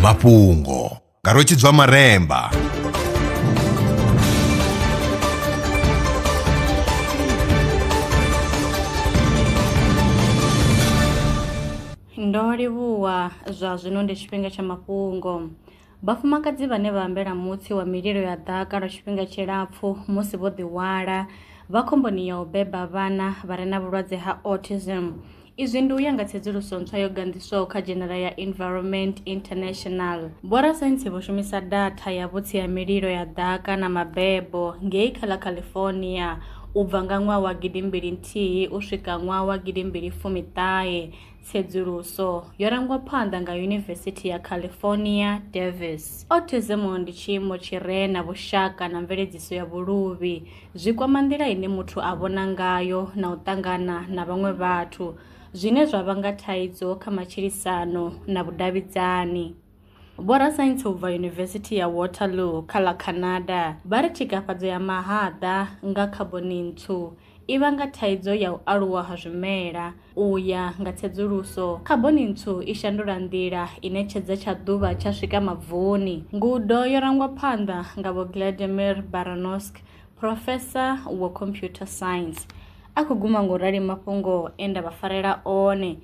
mafhungo nga rwetshidzwa maremba ndo livhuwa zwa zwino ndi tshifhinga tsha mafhungo Vhafumakadzi vhane vha ambela mutsi wa mililo ya ḓaka lwa tshifhinga tshilapfu musi vho ḓihwala vha khomboni ya u beba vhana vha re na vhulwadze ha autism. Izwi ndi u ya nga tsedzuluso ntswa yo ganḓiswaho kha dzhenela ya Environment International. Vhorasaintsi vho shumisa datha ya vhutsi ha mililo ya ḓaka na mabebo ngei kha ḽa California u bva nga ṅwaha wa gidimbili nthihi u swika ṅwaha wa gidimbili fumi ṱahe Tsedzuluso yo rangwa phanḓa nga Yunivesithi ya California, Davis. Autism ndi tshiimo tshi re na vhushaka na mveledziso ya vhuluvhi. Zwi kwama nḓila ine muthu a vhona ngayo na u ṱangana na vhaṅwe vhathu, zwine zwa vhanga thaidzo kha matshilisano na vhudavhidzani. Vhorasaintsi u bva Yunivesithi ya Waterloo kha ḽa Canada vha ri tshikafhadzo ya mahaḓa nga khaboni ntswu i vhanga thaidzo ya u aluwa ha zwimela. U ya nga tsedzuluso, khaboni ntswu i shandula nḓila ine tshedza tsha ḓuvha tsha swika mavuni. Ngudo yo rangwa phanḓa nga Vho Gladimir Baranowsky, phrofesa wa computer science. A khou guma nga u rali mafhungo e nda vha farela one.